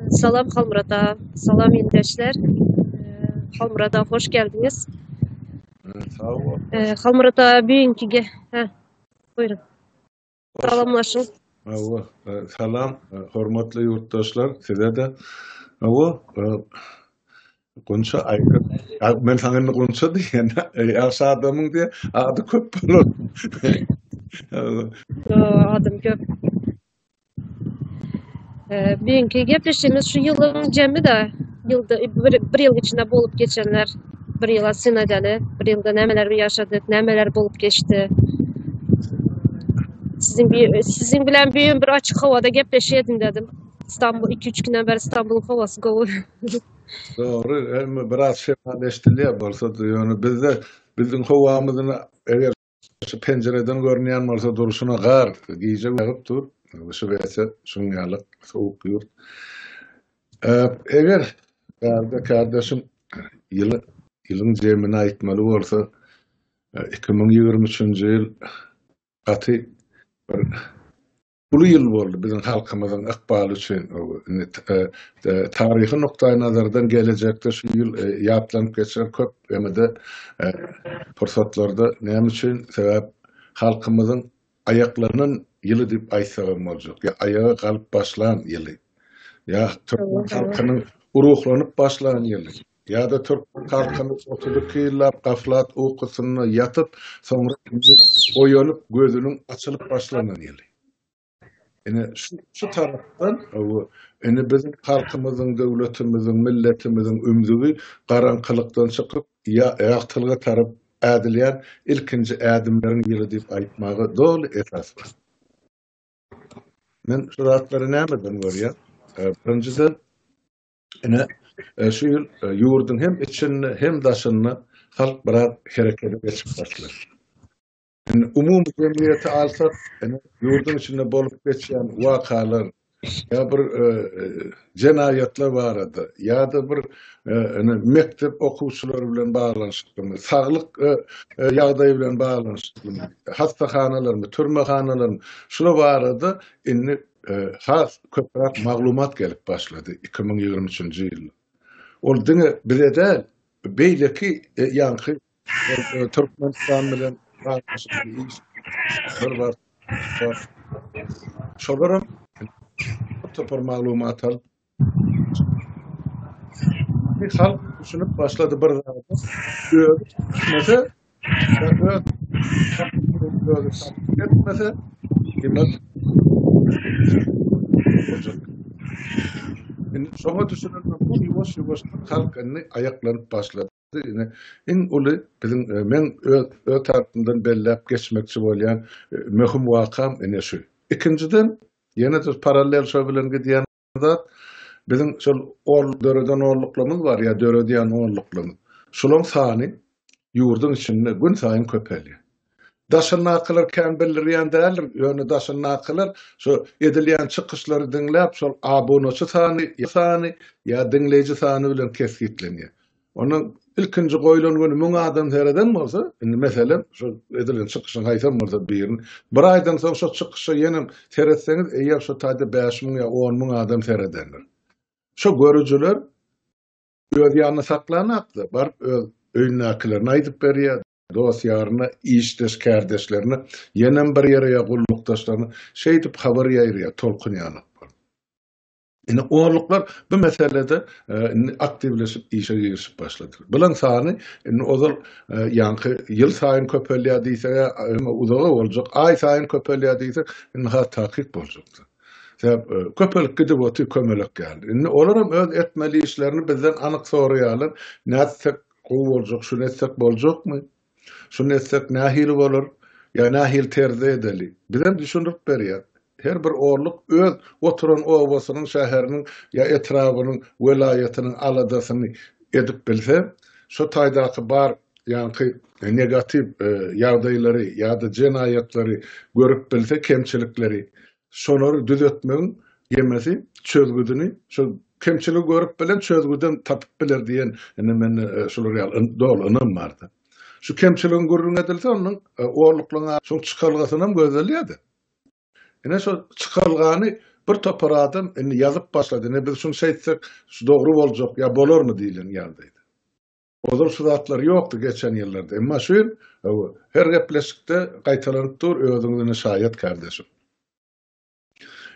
Salam Halmyrada, salam ildeşler. Halmyrada hoş geldiňiz. Sag bol. Halmyrada biňki ge, hä. Buyurun. Salamlaşyň. Awa, salam hormatly ýurtdaşlar, size-de. Awa, Gunça aýdyp, men saňa indi Gunça diýen, ýaş adamyň diýen ady köp bolar. Adym köp. Birinki gepleşimiz şu ýylyň jemi de ýylda bir, bir ýyl içinde bolup geçenler bir ýyla synadaly, bir ýylda nämeler ýaşadyk, nämeler bolup geçdi. Siziň siziň bilen bir bir açyk howada gepleşeýin dedim. İstanbul 2-3 günden beri İstanbul'un havası gowy. Dogry, emma biraz şemaleşdirilýär bolsa-da, ýöne bizde biziň howamyzyn eger şu penjireden görünýän bolsa durşuna gar, gije ýagyp dur, şübhesi şuň ýaly sowuk ýurt. Eger bärde kärdeşim ýyly ýylyň jemini aýtmaly bolsa, iki müň ýigrimi üçünji ýyl gaty bir uly ýyl boldy biziň halkymyzyň ykbaly üçin. Indi taryhy nukdaýnazardan gelejekde şu ýyl ýatlanyp geçer köp ýene-de pursatlarda. Näme üçin? Sebäp halkymyzyň aýaklanan ýyly diýip aýtsagam boljak. Ýa aýaga galyp başlan ýyly. Ýa türkmen halkynyň ruhlanyp başlan ýyly. Ýa-da türk halkyny otuz iki ýyllap gaflat ukusynda ýatyp, soňra indi oýanyp, gözüniň açylyp başlanan ýyly. Ine, şu, şu tarapdan, bu, indi biziň halkymyzyň, döwletimiziň, milletimiziň ümzügi garaňkylykdan çykyp, ýagtylyga tarap ädilýän ilkinji ädimleriň ýyly diýip aýtmaga doly esas bar. Men şu zatlary nämeden görýän? Birinjiden, Ine, e, şu ýyl e, ýurduň hem içinde, hem daşynda halk biraz herekete geçip başlar. Indi umumy jemgyýeti alsak, indi ýurduň içinde bolup geçýän wakalar ýa bir e, e, jenaýatlar barada ýa-da bir indi mekdep okuwçylary bilen baglanyşyklymy, saglyk ýagdaýy bilen baglanyşyklymy, hassahanalarmy, türmehanalarmy, şular barada indi has köpräk maglumat gelip başlady iki müň ýigrimi üçünji ýyl. Ol diňe bize däl, beýleki ýaňky Türkmenistan bilen şolaram topar maglumat alyp, Indi halk düşünip başlady bir zada. Özi düşünmese, özi satyp etmese, diýmek, boljak. Indi şoňa düşünensoň, ýuwaş-ýuwaşdan halk indi aýaklanyp başlady. Ine, iň uly biziň, meň öz, öz tarapymdan belläp geçmekçi bolýan möhüm wakam ine şu. Ikinjiden, ýene-de parallel şo bilen gidýän zat, biziň şol ol döreden onluklarymyz bar ýa döredýän onluklarymyz. Şolaryň sany ýurduň içinde günsaýyn köpelýär. Daşyndakylar kän bildirýän däldir, ýöne daşyndakylar şu edilýän çykyşlary diňläp, şol abonaçy sany sany ýa diňleýji sany bilen kesgitlenýär. Onda ilkinji goýlan güni müň adam sereden bolsa, indi meselem, şu edilen çykyşyň haýsam bolsa birini, bir aýdan soň şo çykyşa ýenem seretseňiz, eýýäm şo taýda bäş müň ýa on müň adam seredendir. Şo görüjiler öz ýanyna saklanakda, baryp öz öýündäkilerine aýdyp berýär. dost-ýaryna, işdeş-kärdeşlerine, ýenem bir ýere ýa gullukdaşlaryna şeýdip habar ýaýraýar, tolkun ýanyp bolup. Indi orluklar bu meselede indi aktiwleşip işe girişip başladylar. Bulaň sany indi ozal ýaňky ýylsaýyn köpelýär diýseg, emma uzaga boljak, aýsaýyn köpelýär diýsek, indi has takyk boljakdyr. Sebäp köpelip gidip otyr kömelek ýaly. Indi olaram öz etmeli işlerini bizden anyk soraýarlar, nätsek Gowy boljak şuny etsek boljakmy? Şuny etsek nähili bolar? Ýa nähili terzde edeli? Bizem düşündirip berýäs. Her bir orluk öz oturan obasynyň, şäheriniň ýa etrabynyň, welaýatynyň aladasyny edip bilse, şo taýdaky bar ýaňky negatiw ýagdaýlary ýa-da jenaýatlary görüp bilse, kemçilikleri, Şolary düzetmegiň gemesi çözgüdini şu kemçiligi görüp bilen çözgüdem tapyp biler diýen indi mende şular ýaly doly ynam bardy. Şu kemçiligiň gürrüň edilse onuň orluklygyň şoň çykalgasynam gözellýärdi. Ine şo çykalgany bir topar adam indi ýazyp başlady. Ine biz şuny şeýtsek şu dogry boljak ýa bolarmy diýlen ýagdaýda. Ozal şu zatlar ýokdy geçen ýyllarda. Emma şu ýyl her gepleşikde gaýtalanyp dur, özüňiz ine şaýat kardeşim.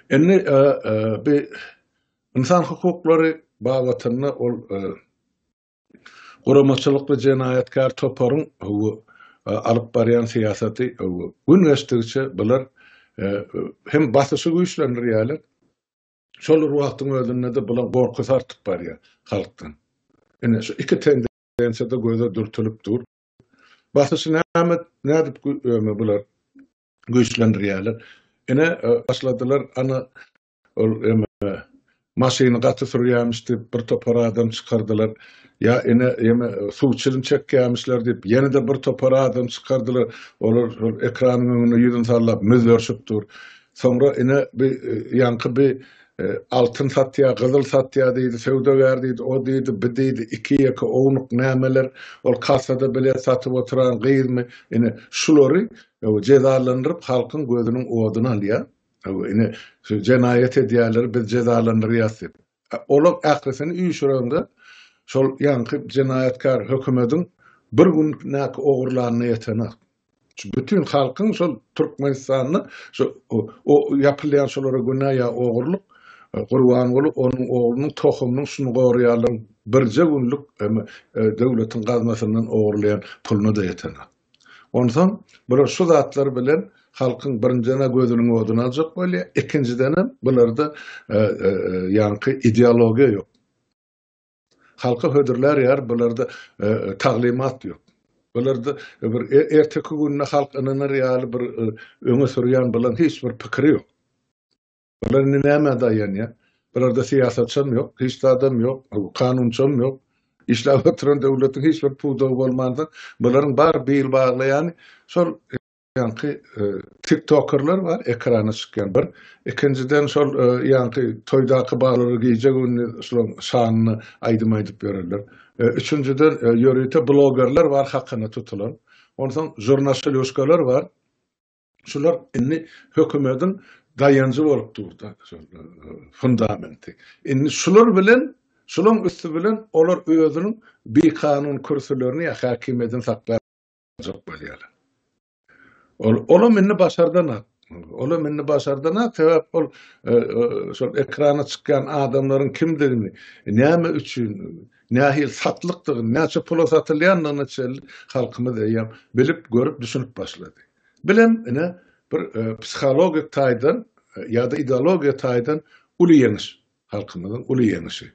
Indi bi ynsan hukuklary babatynda ol guramaçylykly jenaýatkär toparyň alyp barýan syýasaty gün geçdigiçe bular hem basyşy güýçlendirýärler, Şol bir wagtyň özünde-de bulan gorkusy artyp barýar halkdan. Ine, şu iki tendensiýa-da göze dürtülip dur. Basyşy näme, nädip öýme bular güýçlendirýärler. Ine, başladylar, ana, ol ýeme, maşyny gaty sürýärmiş diýip, bir topar adam çykardylar. Ýa, ine, ýeme, suw çilim çekýärmişler diýip, ýene-de bir topar adam çykardylar. Olar şol ekranyň öňünde ýüzüni sallap, müzzerşip dur. Soňra ine bi ýaňky bi altyn satýa, gyzyl satýa diýdi, söwdagär diýdi, o diýdi, bi diýdi, iki ýeke ownuk nämeler, ol kassada bilet satyp oturan gyzmy, ine, şulary jezalandyryp halkyň gözüniň oduny alýar, ine, jenaýat edýärler, biz jezalandyrýas diýip. Olaň ählisini üýşürende şol ýaňky jenaýatkär hökümediň bir gün näki ogurlanyna ýetenak. Şu bütin halkyň şol Türkmenistanda şu o ýapylýan şolara günä ýa ogurlyk Gurbanguly onuň oglunyň tohumynyň şuny goraýarlaryň birje günlük döwletiň gaznasyndan ogurlaýan puluna-da ýetenak. Onsoň bular şu zatlar bilen halkyň birinjidena gözüniň oduny aljak bolýa, ikinjidenem bularda ýaňky ideologiýa ýok. Halka hödürlär ýar bularda taglymat ýok. Bularda bir erteki gününe halk ynanar ýaly bir öňe sürýän bulan hiç bir pikiri ýok. Olar indi nämä daýanýar? Bularda syýasatçam ýok, hiç zadam ýok, kanunçam ýok. Işläp oturan döwletiň hiç bir pudagy bolmansoň, bularyň bar bil baglaýany şol ýaňky tiktokerler bar, ekrana çykýan bir. Ikinjiden şol ýaňky toýdaky baglar gije gündiz şolaryň şanyna aýdym aýdyp ýörerler. Üçünjiden ýörite blogerler bar hakyna tutulan. Onsoň žurnaşylýuškalar bar. Şular indi hökümediň daýanjy bolup durda, fundamenti. Indi şular bilen, şulaň üsti bilen olar özüniň bikanun kürsülerini ýa häkimiýedini saklap galjak bolýarlar. Ol, olam indi başardan at. Olam indi başardan at, sebäp ol, şol ekrana çykýan adamlaryň kimdigini, näme üçin, Nähili satlykdygyny, näçe pula satylýandygyna çenli halkymyz eýýäm bilip, görüp, düşünip başlady. Bilem, ine, bir psihologik taýdan ýa-da ideologiýa taýdan uly ýeňiş, halkymyzyň uly ýeňişi.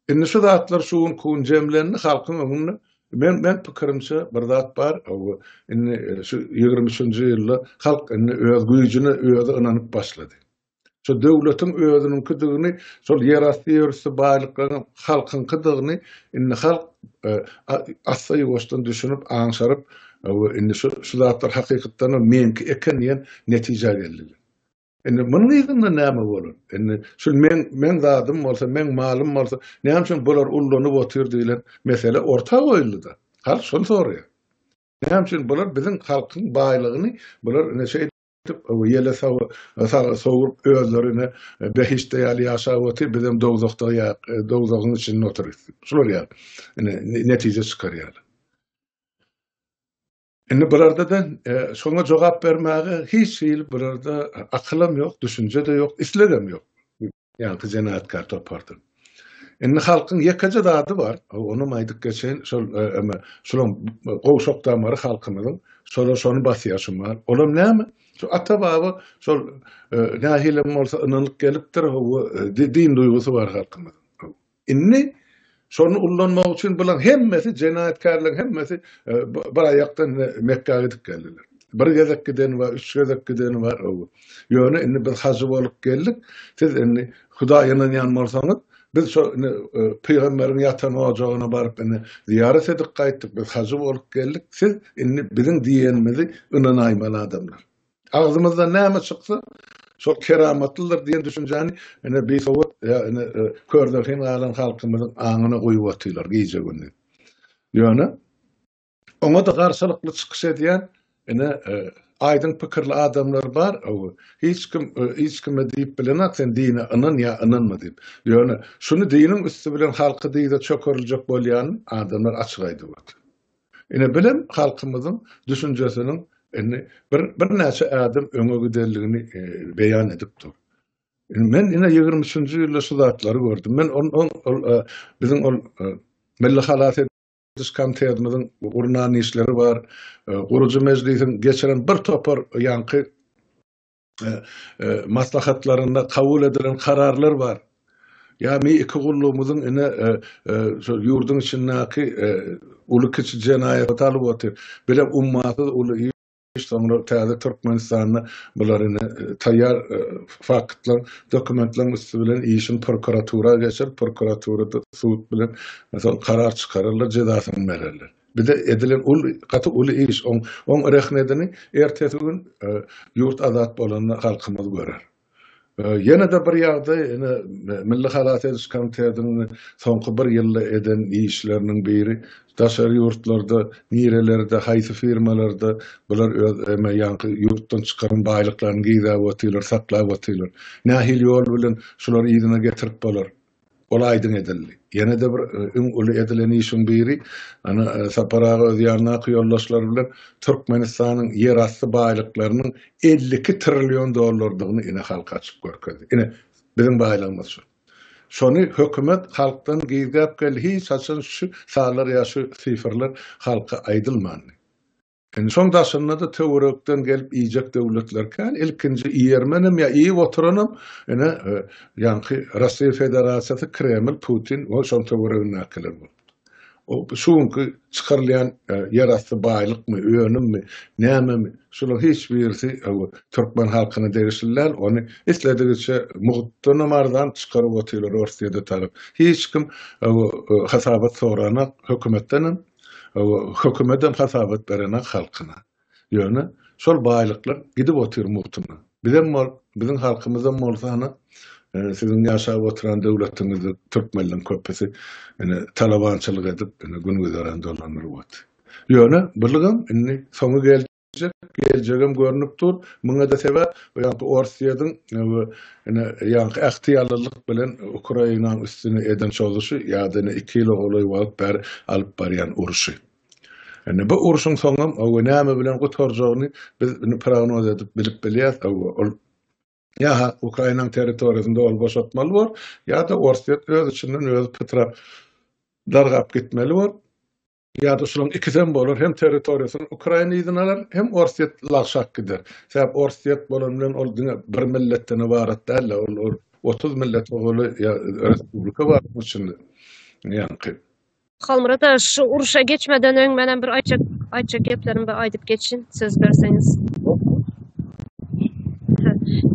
Indi şu zatlar şu günki gün jemlendi, halkyň öňünde, men, men pikirimçe, bir zat bar, o, indi şu ýigrimi üçünji ýylda halk indi öz güýjüne özi ynanyp başlady. Şu döwletiň özüniňkidigini, şol ýerasty ýörüsli baýlyklaryň halkyňkydygyny indi halk assa-ýuwaşdan düşünip, aňşaryp, indi şu zatlar hakykatdanam meňki eken diýen netijä geldiler. Indi munuň yzynda näme bolar? Indi şu meň, meň zadym bolsa, meň malym bolsa, näme üçin bular ullanyp otyr diýlen mesele orta goýuldy-da. Halk şony soraýar. Näme üçin bular biziň halkyň baýlygyny bular ine şeýdip, we ýele sowup özlerine behiştde ýaly ýaşap otyr, bizem dowzahda ýaýyk, dowzahyň içinde otyrys. Şular ýaly, ine, netije çykarýarlar. Indi bularda-da şoňa jogap bermäge hiç hili bularda akylam ýok, düşünje-de ýok, islegem ýok. Ýaňky jenaytkar topardyr. Indi halkyň ýekeje zady bar, onam aýdyp geçeýin, şol eme, şulam gowşak damary halkymyzyň, şolar şony basýar şu mal. Olam näme? Şu ata-baba şol nähilem bolsa ynanyp gelipdir, hawa, din duýgusy bar halkymyzyň. Indi şony ullanmak üçin bular hemmesi jenaýatkärler hemmesi bir aýakdan Mekgä gidip geldiler. Bir gezek gideni bar, üç gezek gideni bar. Ýöne indi biz hajy bolup geldik. Siz indi Hudaýa ynanýan bolsaňyz, biz şo indi pygamberiň ýatan ojagyna baryp indi zyýarat edip gaýtdyk, biz hajy bolup geldik. Siz indi biziň diýenimizi ynanaýmaly adamlar. Agzymyzdan näme çyksa, şol keramatlydyr diýen düşünjäni ine bisowat ýa-ni kördelhin galan halkymyzyň aňyna guýup otylar gije-gündiz. Ýöne oňa-da garşylykly çykyş edýän ine aýdyň pikirli adamlar bar. Hiç kim hiç kime diýip bilenok sen dine ynan ýa ynanma diýip. Ýöne şuny diniň üsti bilen halky dyza çökeriljek bolýanyny adamlar açyk aýdyp otyr. Ine bilen halkymyzyň düşünjesiniň indi bir birnäçe ädim öňe gidenligini beýan edip dur. Men ine 23-nji ýylda şu zatlary gördüm. Men ol ol ol biziň ol Milli halas ediş komitetimiziň gurnan işleri bar. Gurujy mejlisiň geçiren bir topar ýaňky maslahatlarynda kabul edilen kararlar bar. Ýagny iki gullugymyzyň ine şol ýurduň içindäki uly-kiçi jenaýatlary alyp otyr. Bile ummasyz uly iş, soňra täze Türkmenistanda bular ine taýýar faktlaryň, dokumentleriň üsti bilen işiň prokuratura geçer, prokuraturada sud bilen karar çykararlar, jezasyny bererler. Bize edilen uly, gaty uly iş. Oň, oň rehmedini ertesi gün ýurt azat bolanda halkymyz görer. Ýene-de bir ýagdaý, ine, Milli halas ediş komitetiniň soňky bir ýylda eden işleriniň biri, daşary ýurtlarda, nirelerde, haýsy firmalarda bular öz eme, ýaňky ýurtdan çykaran baýlyklaryny gizläp otyrlar, saklap otyrlar. Nähili ýol bilen şulary yzyna getirip bolar? Ol aýdyň edildi. Ýene-de bir iň uly edilen işiň biri, ana, Sapar aga öz ýanyndaky ýoldaşlary bilen Türkmenistanyň ýerasty baýlyklarynyň elli iki trillion dollardygyny ine halka açyp görkezdi. Ine, biziň baýlygymyz şu. Şony hökümet halkdan gizläp geldi. Hiç haçan şu sallar ýa şu sifrler halka aýdylmandy. Indi şoň daşynda-da töwerekden gelip iýjek döwletler kän. Ilkinji iýermenem ýa iýip oturanam ine ýaňky Russiýa Federasiýasy, Kreml, Putin we şoň töweregindäkiler bolupdyr. O şu günki çykarylýan ýerasty baýlykmy, önümmi, nämemi, şularyň hiç birisi türkmen halkyna degişli däl. Ony isledigiçe mugtdanam arzan çykaryp otyrlar Orsýede tarap. Hiç kim hasabat soranak hökümetdenem, Hökümetem hasabat berenak halkyna. Ýöne şol baýlyklar gidip otyr mugtyna. Bizem bol, biziň halkymyzam bolsa hany siziň ýaşap otyran döwletiňizde türkmenleň köpüsi ine talabançylyk edip ine gün güzeran dolandyryp otyr. Ýöne bulygam indi soňy geldi. geljek, geljegem görnüp dur. Muňa-da sebäp, ýagty Orsýetiň we ine, ýaňky ähtiýallylyk bilen Ukrainanyň üstüne eden çozuşy ýa-da ine, iki ýyla golaý wagt bäri alyp barýan urşy. Ine, bu urşuň soňam, hawa, näme bilen gutarjagyny biz indi prognoz edip bilip bilýäs, hawa, ol ýa-ha Ukrainanyň territoriýasyny doly boşatmaly bor, ýa-da Orsýet öz içinden özi pytrap, dargap gitmeli bor. Ýa-da şularyň ikisem bolar, hem territoriýasyny Ukraina yzyna alar, hem Orsýet lagşap gider. Sebäp Orsýet bolan bilen ol diňe bir milletden ybarat däl-de, ol otuz millet owaly ýa respublika bar onuň içinde. Ýaňky. Halmyrat aga, şu urşa geçmeden öň menem bir aýtjak aýtjak geplerim bar, aýdyp geçin, söz berseňiz.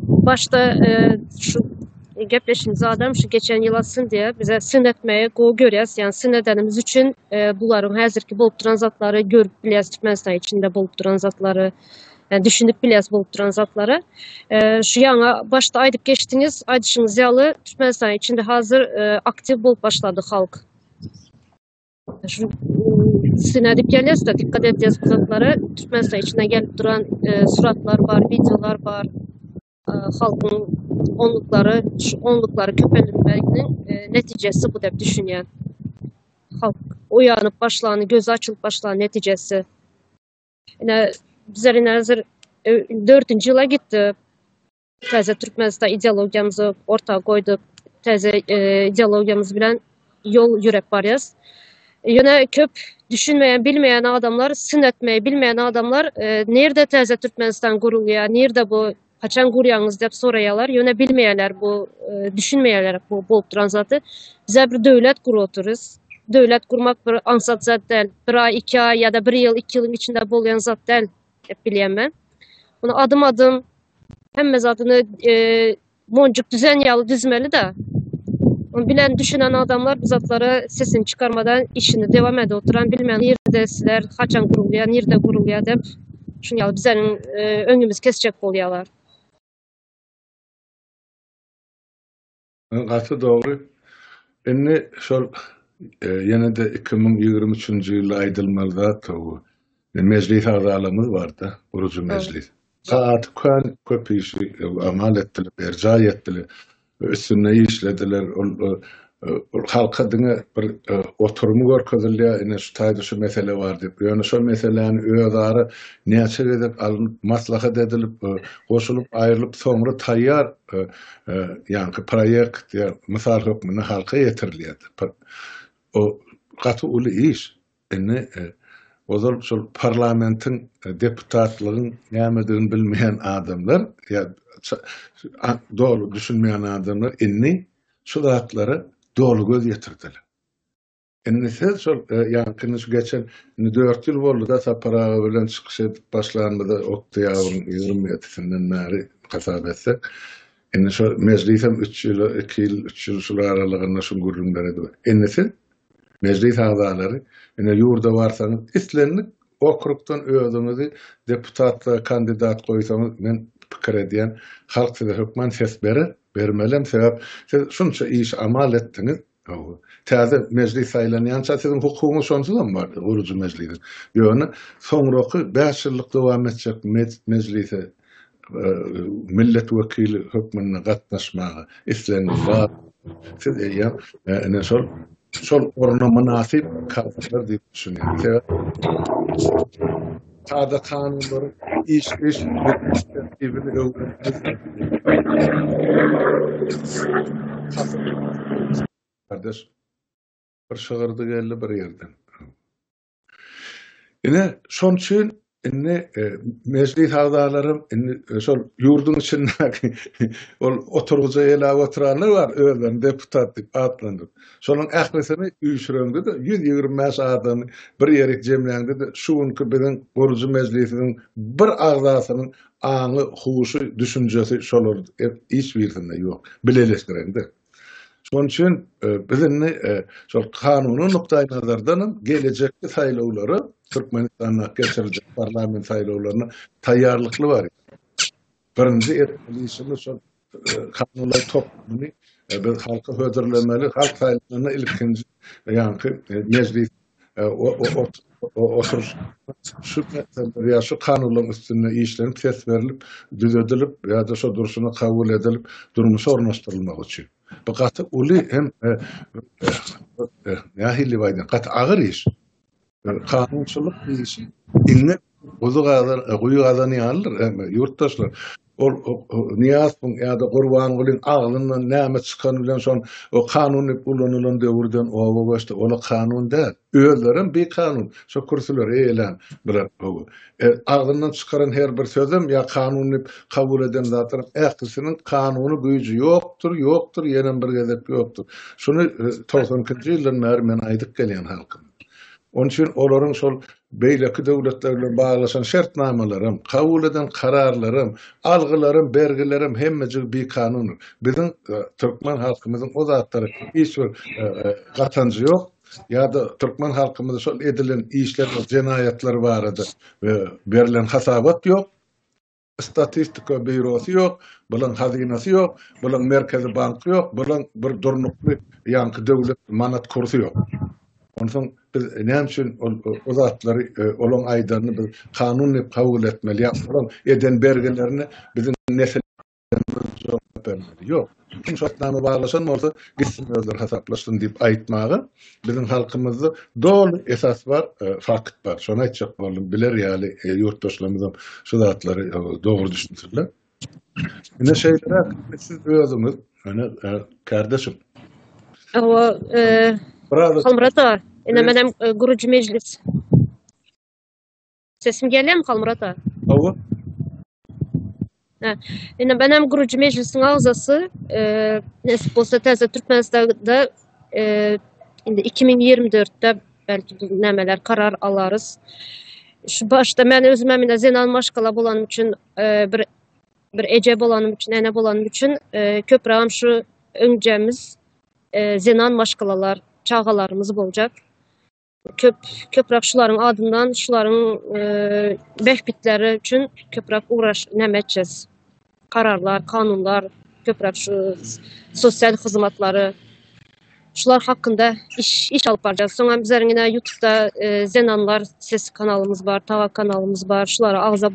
Başda şu Gepleşiň zadam şu geçen ýyl atsyn diýe bize syn etmegi gowy görýäs. Ýani syn edenimiz üçin bularyň häzirki bolup duran zatlary görüp bilýäs Türkmenistan içinde bolup duran zatlary. Yani düşünüp bilýäs bolup duran zatlary. Şu ýaňa başda aýdyp geçdiňiz, aýdyşyňyz ýaly Türkmenistan içinde hazır aktiw bolup başlady halk. Şu syn edip gelýäs da dikkat edýäs bu zatlara. Türkmenistan içinde gelip duran suratlar bar, videolar bar. halkyň onluklary onluklary köpelmeginiň netijesi bu dep düşünýän. Halk oýanyp başlany, gözi açylyp başlany netijesi. Ine bizler ine hazır dördünji ýyla gitdi. Täze Türkmenistan ideologiýamyzy orta goýduk. Täze ideologiýamyz bilen ýol ýöräp barýarys. Ýöne köp düşünmeýän, bilmeýän adamlar, syn etmeýi bilmeýän adamlar nirde täze Türkmenistan gurulýar, nirde bu, haçan gurýaňyz diýip soraýarlar. Ýöne bilmeýärler bu, düşünmeýärler bu bolup duran zady. Bizä bir döwlet gurup otyrys. Döwlet gurmak bir aňsat zat däl. Bir aý, iki aý ýa-da bir ýyl, iki ýylyň içinde bolýan zat däl diýip bilýän men. Muny adym-adym hemme zadyny Monjuk düzen ýaly düzmeli-de. Ony bilen düşünen adamlar bu zatlara sesini çykarmadan işini dewam edip oturan bilmän nirde sizler haçan gurulýar nirde gurulýar dep şun ýaly bizeniň öňümizi kesjek bolýalar. Gaty dogry. Indi şol ýene-de iki müň ýigrimi üçünji ýylda aýdylmaly zat bu. Mejlis agzalarymyz bar-da, gurujy mejlis. Sagat kän köp işi amal etdiler, berjaý etdiler, üstünde işlediler. Ol halka diňe bir oturymy görkezilýär, ine şu taýda şu mesele bar diýip. Ýöne şol meseläni özara näçe gezek alnyp, maslahat edilip, goşulyp, aýrylyp, soňra taýýar ýaňky proýekt ýa mysal hökmünde halka ýetirilýärdi. O gaty uly iş. Indi ozal şol parlamentiň, deputatlygyň nämedigini bilmeýän adamlar ýa doly düşünmeýän adamlar indi şu zatlara doly göz ýetirdiler. Indi siz şol ýaňky indi şu geçen indi dört ýyl boldy-da Sapar aga bilen çykyş edip başlanymyza oktýabryň ýigrimi ýedisinden bäri hasap etsek. Indi şo mejlisem üç ýyl, iki ýyl, üç ýyl şular aralygynda şu gürrüňleri edip. Indi siz Mejlis agzalary, ine ýurda barsaňyz, islendik okrugdan özüňizi deputatlyga kandidat goýsaňyz, men pikir edýän, halk size hökman ses berer, bermelem, sebäp siz şunça iş amal etdiňiz, hawa, täze mejlis saýlanýança siziň hukugyňyz şonsuzam bardy, gurujy mejlisiň, ýöne soňraky bäş ýyllyk dowam etjek mejlise millet wekili hökmünde gatnaşmaga islegiňiz bar, siz eýýäm ine şol şol orna mynasyp kadrlar diýip düşünýän. Sebäbi kada kanunlary iş iş tertibini öwrenip bir şygyrdy geldi bir ýerden. Ine, şoň üçin indi e, mejlis agzalary indi e, şol ýurduň içindäki ol oturgyja elap oturanlar bar, özlerini deputat diýip atlandyryp. Şolaryň ählisini üýşüreňde-de 125 adamy bir ýere jemläňde-de şu günki biziň gurujy mejlisimiziň bir agzasynyň aňy, huşy, düşünjesi şolar e, hiç birisinde ýok. Bileleşdireňde. Şonuň üçin biz indi şol kanuny nukdaýnazardan hem gelejekki saýlawlara, Türkmenistanda geçiriljek parlament saýlawlaryna taýýarlykly barýarys. Birinji etmeli işimiz şol kanunlar toplumyny biz halka hödürlemeli, halk saýlanda ilkinji ýaňky mejlisiň şu kanunlaryň üstünde işlenip, ses berilip, düzedilip ýa-da şo durşuna kabul edilip, durmuşa ornaşdyrylmagy üçin. Bu gaty uly hem nähili diýip aýdaýyn, gaty agyr iş. Kanunçylyk işi Guzy gazan, guýy gazan ýalydyr. Hemme ýurtdaşlar, ol Nyýazowyň ýa-da Gurbangulyň agzyndan näme çykany bilen şol o kanun diýip ulanylan döwürden oba göçdi. Ol-a kanun däl. Özlerem bikanun, şo kürsüleri eýelän bular. Hawa. E, agzyndan çykaran her bir sözem ýa kanun diýip kabul eden zatlaryň ählisiniň kanuny güýji ýokdur, ýokdur, ýenem bir gezek ýokdur. Şuny togsan ikinji ýyldan bäri men aýdyp gelýän halkym. Onuň üçin olaryň şol beýleki döwletler bilen baglaşan şertnamalaram, kabul eden kararlaram, algylaram, bergileram hemmejigi bikanundyr. Biziň türkmen halkymyzyň o zatlara hiç bir gatanjy ýok. Ýa-da türkmen halkymyza şol edilen işler, jenaýatlar barada berilen hasabat ýok. Statistika býurosy ýok, bulaň hazynasy ýok, bulaň merkezi banky ýok, bulaň bir durnukly ýaňky döwlet manat kursy ýok. Onsoň biz näme üçin ol o zatlary olaň aýdanyny biz kanun diýip kabul etmeli ýa-da olaň eden bergilerini biziň nesil jogap bermeli. Ýok. Kim şartnama baglaşan bolsa, gitsin özleri hasaplaşsyn diýip aýtmaga biziň halkymyzda doly esas bar, fakt bar. Şony aýtjak boldum. Biler ýaly ýurtdaşlarymyzam şu zatlary dogry düşünsinler. Ine şeýleräk siz özüňiz, ine kardeşim. Hawa, Howmrat aga, ine menem guruji mejlis. Sesim gelýärmi Halmyrat aga? Hawa. Ine ben hem gurucu meclisiň agzasy, e, nesip bolsa täze Türkmenistanda e, indi 2024-de belki nämeler karar alarys. Şu başda men özüm hem ine zenan maşgala bolanym üçin e, bir bir eje bolanym üçin, ene bolanym üçin e, köprägem şu öňjemiz e, zenan maşgalalar, çagalarymyz boljak. Köp köprak şularyň adyndan şularyň bähbitleri üçin köprak ugraş näme etjis. Kararlar, kanunlar, köprak şu sosial hyzmatlary şular hakynda iş iş alyp barjak. Soň hem bizleriň ýene ýutubda zenanlar ses kanalymyz bar, tawa kanalymyz bar. Şulara agza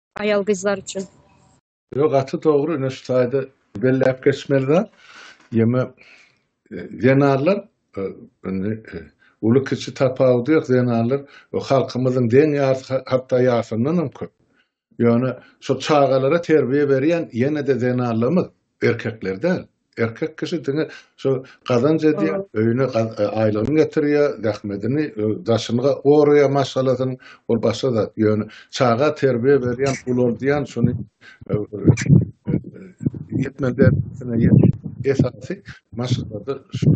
Aýal gyzlar üçin. Ýo gaty dogry ine şu taýda belläp geçmeli zat. Ýöne zenanlar indi uly kiçi tapawudy ýok zenanlar halkymyzyň deň ýarysy hatda ýarysyndan hem köp. Ýöne şu çagalara terbiýe berýän ýene-de zenanlarymyz erkekler däl. Erkek kişi diňe şo gazanç edýär, öýüne aýlygyny getirýär, zähmedini, daşyny goraýar maşgalasynyň, ol başga zat. Ýöne çaga terbiýe berýän, ulaldýan şuny ýetmeli derejä esasy maşgalada şu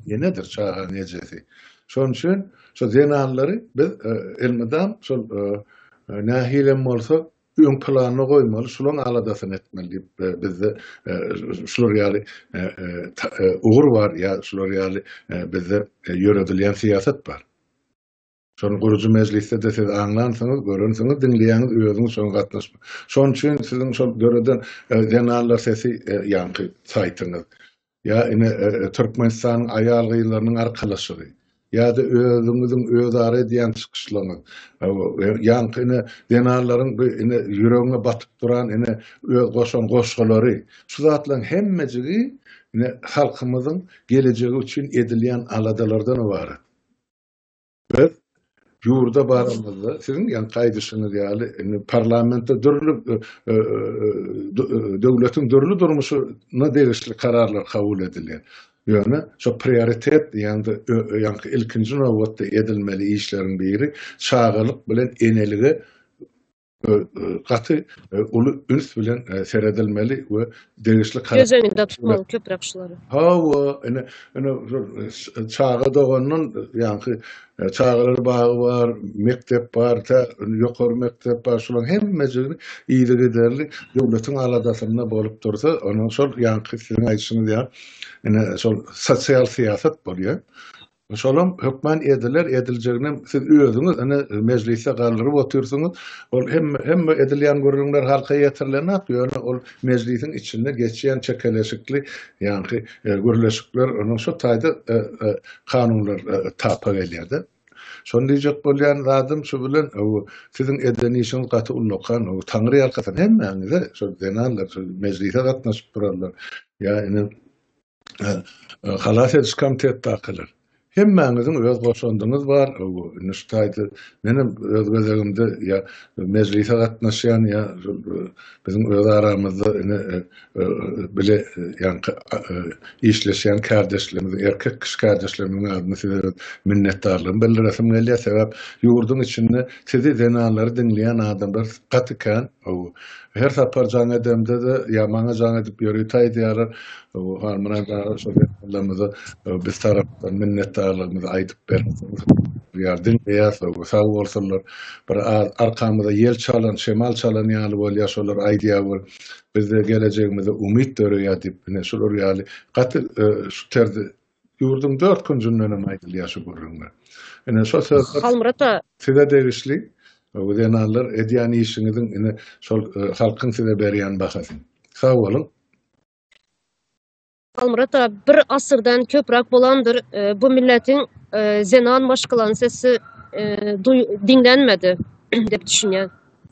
enedir, çaganyň ejesi. Şonuň üçin şu zenanlary biz elmydam şol nähilem bolsa öň planyny goýmaly, şulaň aladasyny etmeli diýip, bizde şular ýaly ugur bar ýa şular ýaly bizde ýöredilýän syýasat bar. Şony gurujy mejlisde-de siz aňlansyňyz, görensiňiz, diňleýäňiz, özüňiz şoňa gatnaşma. Şon üçin siziň şol döreden Zenanlar sesi ýaňky saýtyňyz, Ýa ine Türkmenistanyň aýal-gyzlarynyň arkalaşygy. Ýa-da özüňiziň özara edýän çykyşlaryňyz. Ýaňky ine zenanlaryň bu ine ýüregiňe batyp duran ine öz goşan goşgulary. Şu zatlaryň hemmejigi ine halkymyzyň gelejegi üçin edilýän aladalardan ybarat. Biz ýurda baramyzda siziň ýaňky gaýdyşyňyz ýaly indi parlamentde dürli e, e, e, döwletiň dürli durmuşyna degişli kararlar kabul edilýär. Ýöne şu prioritet diýende ýaňky ilkinji nobatda edilmeli işleriň biri çagalyk bilen enelige gaty uly üns bilen seredilmeli we degişli karar Göz öňünde tutmaly köpräk şulary. Hawa, ine, ine çaga dogandan ýaňky çagalar bagy bar, mekdep bar, tä ýokary mekdep bar, şularyň hemmejigini yzy giderli döwletiň aladasynda bolup dursa, onuň şol ýaňky siziň aýdyşyňyz ýaly, ine şol sosial syýasat bolýar. Şolam hökman ediler, ediljeginem siz özüňiz ine mejlisde galdyryp otyrsyňyz. Ol hemme hemme edilýän gürrüňler halka ýetirilenok, ýöne ol mejlisiň içinde geçýän çekeleşikli ýaňky gürleşikler onuň şu taýda kanunlar tapa gelýär-de. Şony diýjek bolýan zadym şu bilen siziň eden işiňiz gaty ullakan, Taňry ýalkasyn hemmäňize, şol zenanlar, şol mejlise gatnaşyp duranlar, ýa ine Halas ediş komitetdakylar. Hemmäňiziň öz goşandyňyz bar. Indi şu taýda menem öz gezegimde ýa mejlise gatnaşýan ýa biziň öz aramyzda ine bile ýaňky işleşýän kärdeşlerimiziň erkek kişi kärdeşlerimiziň adyna size öz minnetdarlygymy bildiresim gelýär. Sebäp ýurduň içinde sizi zenanlary diňleýän adamlar gaty kän. Her sapar jaň edemde-de, ýa maňa jaň edip ýörütaý diýýärler, Halmyrat aga şol ýaşulylarymyza biz tarapdan minnetdarlygymyzy aýdyp berseňiz diýýär, diňleýäs we sag bolsunlar. Bir arkamyza ýel çalan, şemal çalan ýaly bolýar, şolar aýdýar we bizde gelejegimize umyt döreýär diýip, ine şular ýaly gaty şu terzi Ýurduň dört künjünden hem aýdylýar şu gürrüňler. Ine, şo sözler Halmyrat aga. size degişli. Bu zenanlar edýän işiňiziň, ine, şol e, halkyň size berýän bahasy. Sag boluň. Halmyrat aga, bir asyrdan köpräk bolandyr, e, bu milletiň e, zenan maşgalanyň sesi e, duý- diňlenmedi diýip düşünýän.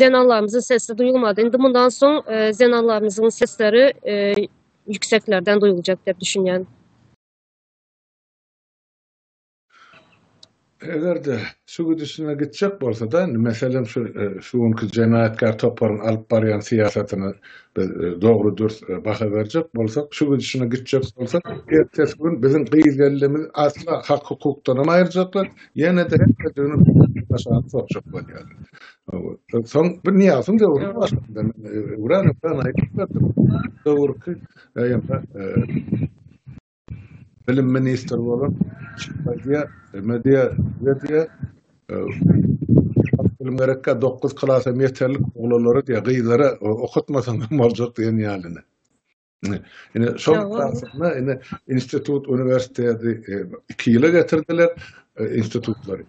Zenanlarymyzyň sesi duýulmady. Indi mundan soň zenanlarymyzyň sesleri ýükseklerden duýuljak diýip düşünýän. Eger-de şu gidişine gitjek bolsa-da, indi meselem şu şu günki jenaýatkär toparyň alyp barýan syýasatyna biz dogry dürs baha berjek bolsak, şu gidişine gitjek bolsa, ertesi gün biziň gyz gelnimizi asla hak-hukukdanam aýyrjaklar, Ýene-de hemmedigini başaryp sorşak bolýar. Soň bir niýasyň döwrüni başlanda, Uran Uran aýtdy. Döwürki ýa-da bilim ministri bolan Şahbadiýa, Mediýa, Mediýa bilim gerekkä 9 klasam ýeterlik oglanlara diýä gyzlara okatmasaň hem boljak diýen ýalyny. Ine, şol esasynda ine institut, uniwersiteti e, iki ýyla getirdiler e, institutlary.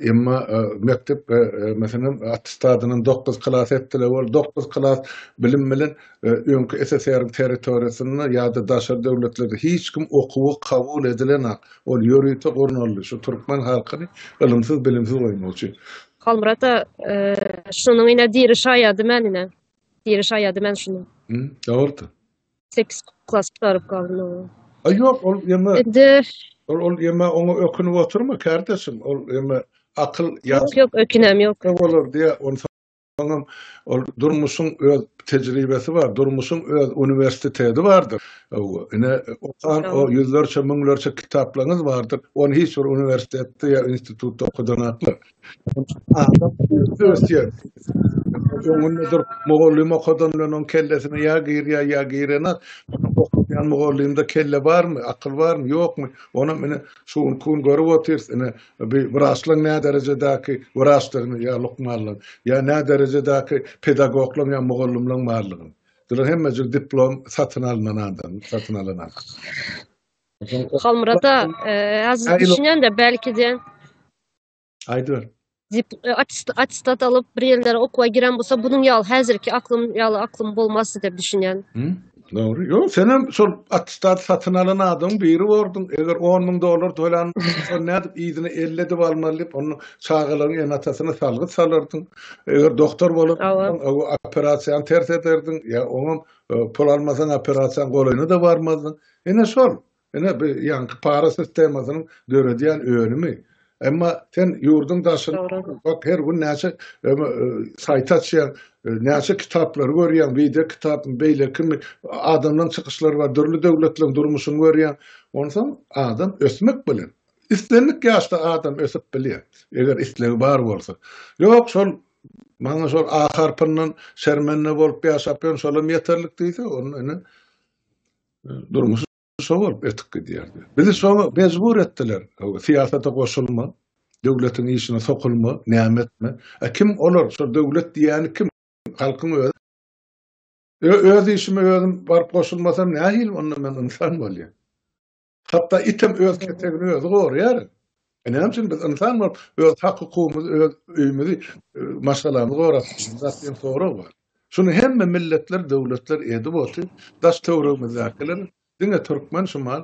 Emma e, mekdep meselem attestadynyň 9 klas etdiler, ol 9 klas bilim bilen öňki SSR territoriýasynda ýa-da daşary döwletlerde hiç kim okuwa kabul edilen ol ýörite gurnaldy. Şu türkmen halkyny ylymsyz bilimsiz goýmak üçin. Halmurata şunuň ine diri şaýady men ine. Biri şaýady men şunu. Hı, dogrudy. 8 klas gutaryp galdym oňa. A ýok, ol ýeme. Indi ol ol ýeme oňa ökünip oturma kardeşim. Ol ýeme akyl ýa. Ýok, ýok, ökünem ýok. Ýok olar diýä, onsoňam ol durmuşyň öz tejribesi bar, durmuşyň öz uniwersiteti bardyr. Hawa, ine okan o ýüzlerçe, müňlerçe kitaplaryňyz bardyr. Ony hiç bir uniwersitetde ýa institutda okadanakmy? Adam ösdü ösýär. Öňünde durup mugallym okadandan oň kellesine ýa girýär ýa girenok. Okaýan mugallymda kelle barmy, akyl barmy, ýokmy? Onam ine şu gün iki gün görüp otyrys ine bi wraçlaň nä derejedäki wraçdygyny ýa lukmanlaň, ýa nä derejedäki pedagoglaň ýa mugallymlaň barlygyny. Bular hemmejik diplom satyn alnan adam, satyn alan adam. Halmyrat aga, äzis düşünýän-de, belki diýen. Aýdyber. Dip e, atistat alyp bir ýerlere okuwa giren bolsa, bunuň ýaly häzirki aklym ýaly aklym bolmazdy diýip düşünýän. Dogry. Ýok, sen hem şol atistat satyn alan adam biri borduň. Eger 10 müň dollar tölen, sen nädip ýüzüne 50 edip almaly diýip, onuň çagalaryň enatasyna salgyt salardyň. Eger doktor bolup, operasiýany ters ederdiň, ýa oňam e, pul almasaň operasiýanyň golaýyna da barmazdyň. Ene şol. Ine, bu ýaňky para sistemasynyň döredýän önümi. Emma sen ýurduň daşyny bak, her gün näçe saýt açýaň, näçe kitaplary görýäň, wideo kitapmy, beýlekimi, adamlaryň çykyşlary bar, dürli döwletleriň durmuşyny görýäň. Onsoň adam ösmek bilen, islendik ýaşda adam ösüp bilýär, eger islegi bar bolsa. Ýok, şol maňa şol A harpyndan şermende bolup ýaşap ýörün, şolam ýeterlik diýse, onda ine, durmuşy şo bolup ötüp gidýärdi. Bizi şoňa mejbur etdiler. Syýasata goşulma, döwletiň işine sokulma, näme etme. E kim olar? Şo döwlet diýýäni kim? Halkyň özi. Öz işime özüm baryp goşulmasam nähili onda men ynsan bolýan? Hatda item öz ketegini özi gorýar. E näme üçin biz ynsan bolup öz hak-hukugymyzy, öz öýümizi, e, maşgalamyzy gorap, sorag bar. Şuny hemme milletler, döwletler edip oty, daş-töwregimizdäkiler diňe türkmen şumal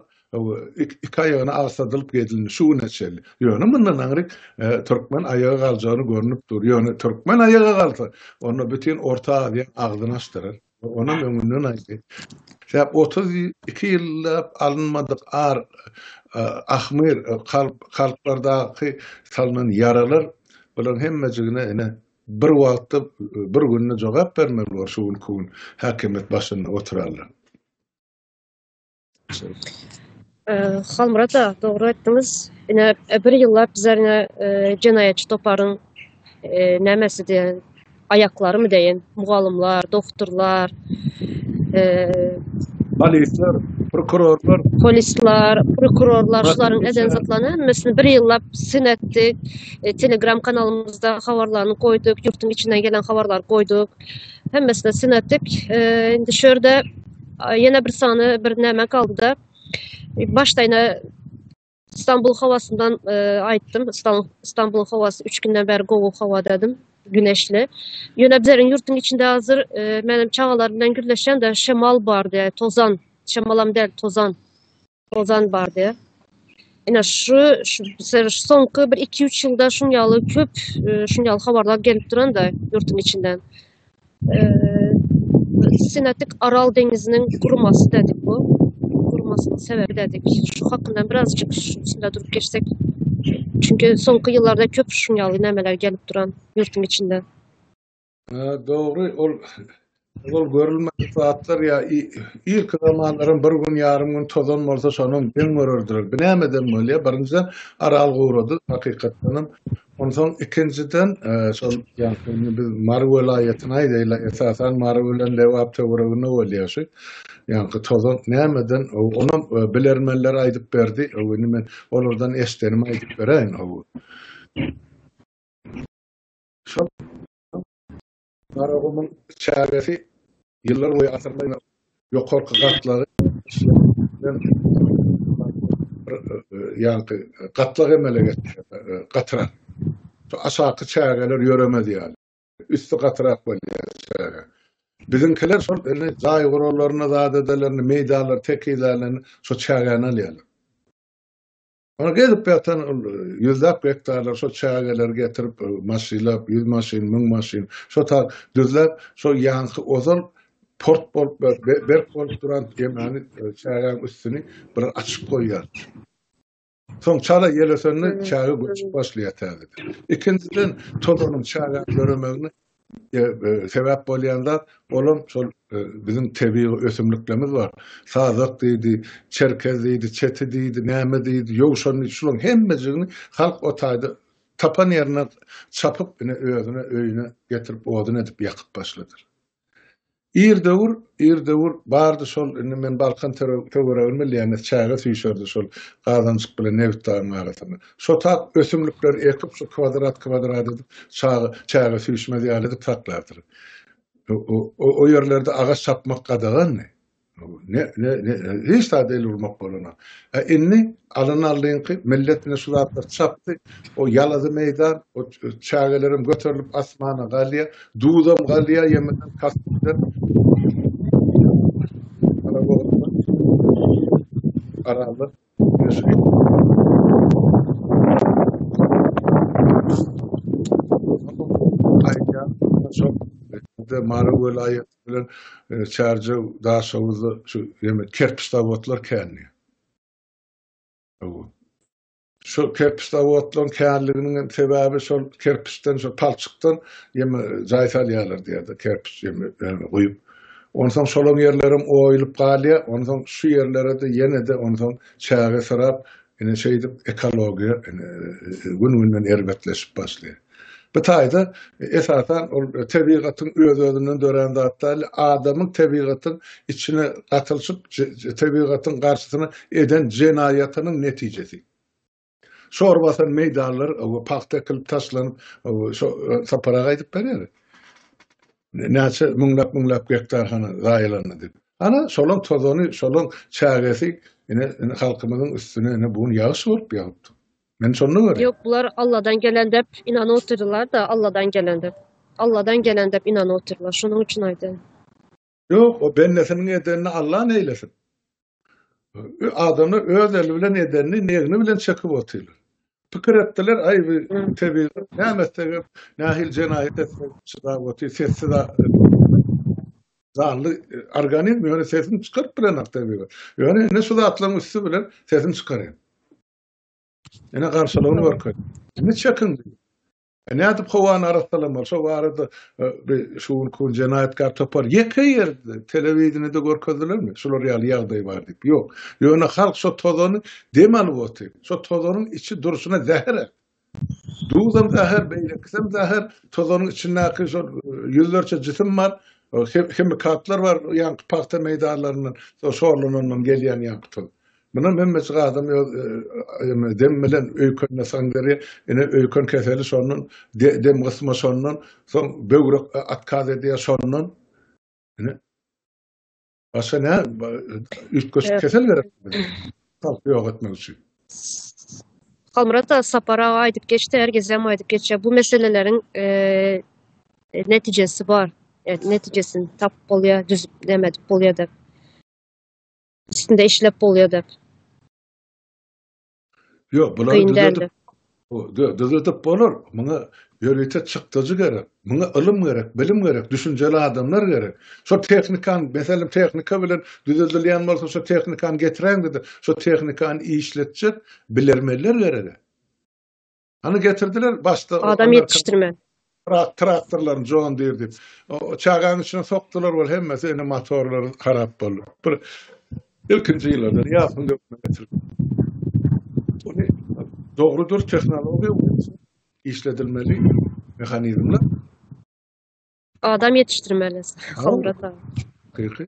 iki aýagyny agsadylyp gezilni şu güne çenli. Ýöne mundan aňryk türkmen aýaga galjagyny görnüp dur. Ýöne türkmen aýaga galsa, onda bütin Orta Aziýa agzyny açdyrar. Onam öňünden aýdy. Sebäp otuz iki ýyllap alynmadyk ar, ahmyr, kalplardaky salnan ýaralar bularyň hemmejigine ine Bir wagtda bir günde jogap bermeli bolar şu günki gün häkimiýet başynda oturanlar. Halmyrat aga dogry etdiniz. Ine bir ýyllap bizler ine jenaýatçy toparyň nämesi diýen aýaklarymy deýin, mugallymlar, doktorlar, polisler, prokurorlar, polisler, prokurorlar şularyň eden zatlaryny hemmesini bir ýyllap syn etdik. E, Telegram kanalymyzda habarlaryny goýduk, ýurtun içinden gelen habarlary goýduk. Hemmesini synatdyk. E, indi şu ýerde ýene bir sany bir näme galdy-da. E, Başdaýna Stambul howasyndan e, aýtdym. Stan- Stambul howasy 3 günden bäri gowy howa dedim. Güneşli. Ýöne bizleriň ýurtun içinde hazır e, menem çagalar bilen gürleşen-de şemal bar diýär, tozan. Şemalam däl, tozan. Ozan bardy. Ina şu şu soňky bir 2-3 ýylda şun ýaly köp e, şun ýaly habarlar gelip duranda ýurtun içinden. E, Sinatik Aral deňiziniň gurmasy dedik bu. Gurmasynyň sebebi dedik. Şu hakynda birazjyk üstünde durup geçsek. Çünki soňky ýyllarda köp şun ýaly nämeler gelip duran ýurtun içinden. Dogry, ol ol görülmedik zatlar ýa irki zamanlaryň bir gün ýarym gün tozan bolsa şonuň geň görerdiler. Bu nämeden bolýar? Birinjiden Aral gurady hakykatdan hem. Onsoň ikinjiden şol ýagdaýyny biz Mary welaýatyny aýdaýla esasan Mary bilen Lebap töwereginde bolýar şu. Ýagny tozan nämeden ony bilermenler aýdyp berdi. Indi men olardan eşdenimi aýdyp beräýin. Şol Garagumuň çägesi ýyllar boýy asyrlaýyn ýokarky gatlagy ýagty gatlag emele getirýär, gatyrak. Şo aşaky çägeler ýöremez ýaly. Üsti gatyrak bolýar çäge. Biziňkiler şol indi jaý guralaryny, zadedelerini, meýdanlary, tekizelerini şo çägäni alýarlar. Oňa gezip ýatan ol ýüzläp gektarlar şo çägeleri getirip, maşylap, ýüz maşyn, müň maşyn, şo tar düzläp, şo ýaňky ozal port bolup, berk bolup duran ýemany çägäniň üstüni bir açyp goýýar. Soň çala ýel ösende çäge göçüp başlaýar täzeden. Ikinjiden tozanyň çägäni göremegine e, sebäp bolýan zat, olam şol e, biziň tebigy ösümliklerimiz bar. Sazak diýdi, çerkez diýdi, çeti diýdi, näme diýdi, ýowşan diýdi. Şularyň hemmejigini halk o taýda tapan ýerine çapyp, ine özüne öýüne getirip odun edip ýakyp başladyr. Ir döwür, ir döwür bardy şol, indi men Balkan töweregini bilýän-de, çäge süýşerdi şol Gazanjyk bilen Nebit dagyň arasynda. Şotap ösümlikleri ekip, şu kwadrat-kwadrat edip, çaga, çäge süýşmez ýaly edip saklapdyr. O ýerlerde agaç çapmak gadagandy. Ne, ne, ne, hiç zada el urmak bolanok. E, indi alan aldyňky millet ine şu zatlary çapdy. O ýalazy meýdan, o çägelerem göterilip asmana galýar. Duzam galýar ýemeden kasykdan. Arada de Mara welaýaty bilen e, Çarja daşawuzda şu ýeme kerpiç zawodlar kändi. Şol kerpiç zawodlaryň känliginiň hem sebäbi şol kerpiçden, şol palçykdan ýeme jaý salýarlar diýýärdi, kerpiç ýeme ýerine guýup. Onsoň şolaň ýerlerem oýulyp galýar, onsoň şu ýerlere-de ýene-de onsoň çäge syrap, ine şeýdip ekologiýa ine gün-günden erbetleşip başlaýar. Bu taýda esasan ol tebigatyň öz-özünden dörän zat däl, adamyň tebigatyň içine gatylyşyp, tebigatyň garşysyna eden jenaýatynyň netijesi. Şor basan meýdanlar pagta ekilip taşlanyp, şo Sapar aga aýdyp berýär. Näçe müňläp-müňläp gektar hany zaýalandy diýip. Ana, şolaň tozany, şolaň çägesi ine halkymyzyň üstüne ine bu gün ýagyş bolup ýagypdyr. Men şonda görýän. Ýok, bular Alladan gelen dep inanyp otyrdylar da, Alladan gelen dep. Alladan gelen dep inanyp otyrdylar. Şonuň üçin aýdýan. Ýok, o bendesiniň edenini Alla neýlesin? Adamlar öz eli bilen edenini negni bilen çekip otyrlar. Pikir etdiler, aý bu tebigat näme etsek hem, nähili jenaýat etsek çydap otyr, sessiz zanly organizm ýöne sesini çykaryp bilenok tebigat. Ýöne indi şu zatlaryň üsti bilen sesini çykarýan. Ene garşylygyny görkezdi. Indi çekin. E, Nädip howany arassalamaly? Şo barada e, şu gün kun jenaýatkar topar ýeke ýerde telewideniýede görkezdilermi? Şular ýaly ýagdaý bar diýip. Ýok. Ýöne halk şo tozany dem alyp otyr. Şo tozanyň içi durşuna zäher. Duzam zäher, beýlekisem zäher. Tozanyň içindäki şo e, ýüzlerçe jisim bar. Hemikatlar bar, ýaňky pagta meýdanlaryndan, şo şorlanandan gelýän ýaňky toz. Mundan öňňeçik adam ýa ýa dem bilen öýkänme sandyry ine öýken keseli şondan dem gysma şondan soň böwrek atkaz edýär şondan ine başga nä üýtgeşik kesel gerek halky ýok etmek üçin. Halmyrat aga Sapar aga aýdyp geçdi her gezem aýdyp geçýär bu meseleleriň netijesi bar netijesini tapyp bolýar düzüp näme edip bolýar dep. üstünde işlep bolýar dep. Ýok, bular düzedip, düzedip bolar. Muňa ýörite çykdajy gerek. Muňa ylym gerek, bilim gerek, düşünjeli adamlar gerek. Şo tehnikan, meselem tehnika bilen düzedilýän bolsa, şo tehnikany getiräň diýdi. Şo tehnikany işletjek bilermenler gerek. Ony getirdiler başda. Adam ýetişdirme. Trak, traktorlaryň John Deere diýip. Çaganyň içine sokdular bol hemmesi ene motorlary harap boldy. Bir ilkinji ýyllarda ýapyň dökme getirip. Ony dogrudyr tehnologiýa işledilmeli mehanizmler. Adam ýetişdirmeli. Howrata. Hakyky.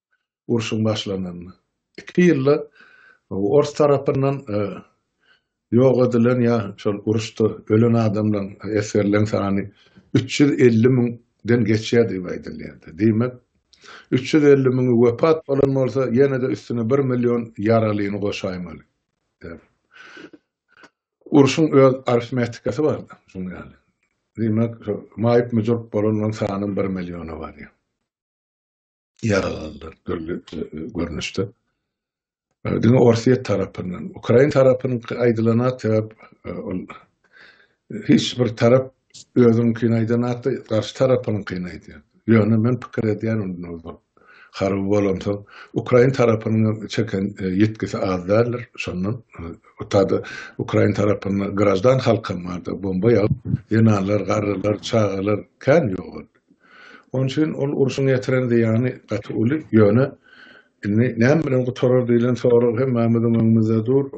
urşuň başlananda. Iki ýylda ors tarapyndan ýok edilen ýa şol uruşda ölen adamlaryň, esgerleriň sany üç ýüz elli müňden geçýär diýip aýdylýar. Diýmek, üç ýüz elli müňi wepat bolan bolsa, ýene-de üstüne bir million ýaralyny goşaýmaly. Urşuň öz arifmetikasy bar şunuň ýaly. Diýmek, maýyp-müjürk bolanlaryň sany bir milliona barýar. ýaralanlar dürli görnüşde. Diňe Orsýet tarapyndan, Ukrain tarapynyň aýdylana sebäp ol hiç bir tarap özüňkini aýdan atda garşy tarapynyňkyny aýdýar. Ýöne men pikir edýän onda bir harby bolansoň Ukrain tarapynyň çeken ýetgisi az däldir. Şondan utada Ukrain tarapynda grajdan halkam bardy. Bomba ýagyp, zenanlar, garrylar, çagalar kän ýogaldy. Onuň üçin ol urşuň ýetiren zyýany gaty uly, ýöne indi näme bilen gutarar diýlen sorag hemmämiziň öňümizde dur.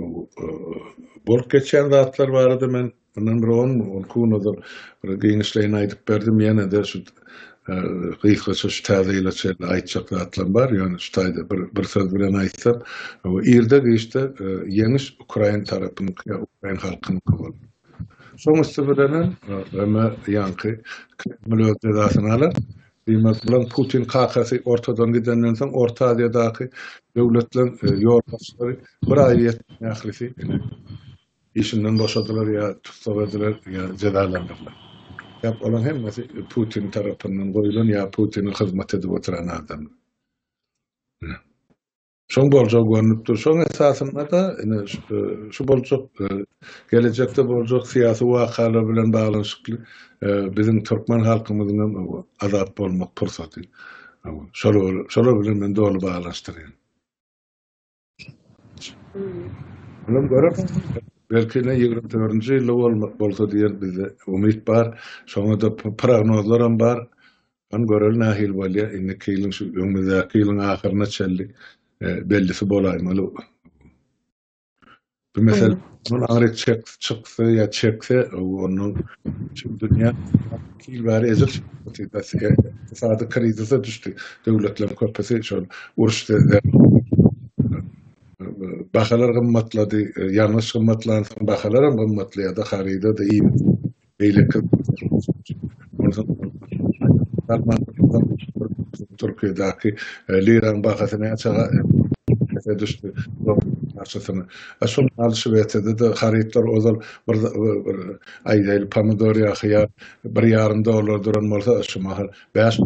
Bolup geçýän zatlar barada men mundan bir on, on iki gün ozal bir giňişleýin aýdyp berdim, ýene-de şu gysgaça şu täze ýyla çenli aýtjak zatlarym bar, ýöne şu taýda bir bir söz bilen aýtsam, irde-giçde ýeňiş ukrain tarapynyňky, ukrain halkynyňky bolar. Şoň üsti bilenem Roma ýaňky Kreml öz jezasyny alar. Diýmek bilen Putin kakasy ortadan gidenden soň Orta Aziýadaky döwletleriň ýolbaşçylary bir aý ýetmän ählisi işinden boşadylar ýa tussag ediler ýa jezalandyrylar. Sebäp olaň hemmesi Putin tarapyndan goýlan ýa Putine hyzmat edip oturan adamlar. Şoň boljagy görnüp dur. Şoň esasynda-da ine şu boljak gelejekde boljak syýasy wakalar bilen baglanyşykly biziň türkmen halkymyzyň hem azat bolmak pursaty. Şolar bilen men doly baglanyşdyrýan. Munuň görüp, belki ine ýigrimi dördünji ýylda bolsa diýen bizde umyt bar. Şoňa-da prognozlar hem bar. Hany göreli nahili bolya indiki ýylyň şu öňümizdäki ýylyň ahyryna çenli bellisi bolaýmaly bu mesele muny aňryk çek çyksa ýa çekse ondan şu dünýä iki ýyl bäri ejir ykdysady krizise düşdi döwletleriň köpüsi şol uruş bahalar gymmatlady ýangyç gymmatlansoň bahalar hem gymmatlaýada haryda-da iýmite beýleki Türkiýedäki liraň bahasy näçe pese düşdi, şol mahaly Şwesiýada-da harytlar ozal bir aýdaýly pomidor ýa hyýar bir ýarym dollar duran bolsa, şu mahal Bäş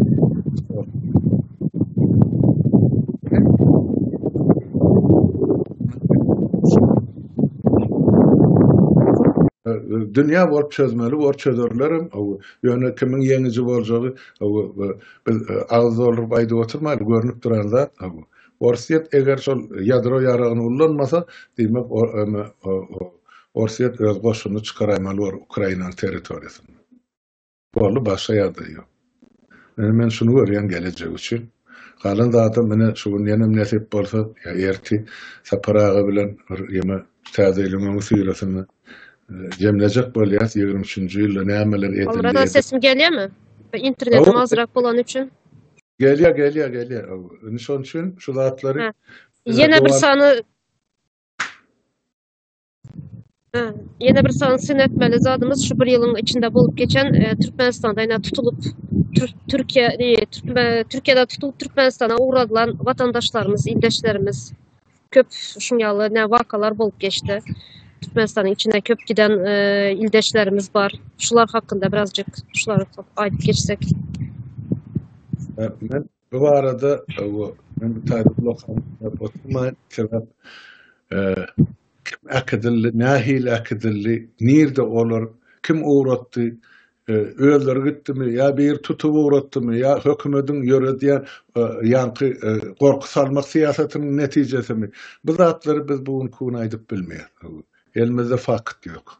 dünýä bolup çözmeli bor çözerlerim. Ýöne kimiň ýeňiji boljagy biz e, agyz dolduryp aýdyp oturmaýly görnüp duran zat. Orsýet eger şol ýadro ýaragyny ullanmasa, diýmek Orsýet öz goşunyny çykaraýmaly bor Ukrainanyň territoriýasyndan. Boldy başga ýagdaý ýok. Indi men şuny görýän gelejek üçin. Galan zadam ine şu gün ýenem nesip bolsa ýa erti Sapar aga bilen bir ýeme Täze ýylyň öňi syrasyny jemlejek bolýas ýigrimi üçünji ýylda nämeler edildi. Omra aga sesim gelýärmi? Internetim azrak bolany üçin. Gelýär gelýär gelýär hawa. Indi şonuň üçin şu zatlary Ýene bir sany Ýene bir sany syn etmeli zadymyz şu bir ýylyň içinde bolup geçen e, Türkmenistanda ýa tutulyp Türkiýe e, Türkiýede tutulyp Türkmenistana ugradylan watandaşlarymyz, ildeşlerimiz köp şuň ýaly ne wakalar bolup geçdi. Türkmenistanyň içine köp giden e, ildeşlerimiz bar. Şular hakynda birazjyk şulary aýdyp geçsek. Rahmet. Bu barada men bu taýda ulak-ulak oturmaýyn, sebäp kim äkidildi, nähili äkidildi, nirde olar, kim ugratdy, özleri gitdimi ýa biri tutup ugratdymy ýa hökümediň ýöredýän ýaňky gorky salmak syýasatynyň netijesimi, bu zatlary biz bu günki gün aýdyp bilmeýäris. Elimizde fakt ýok.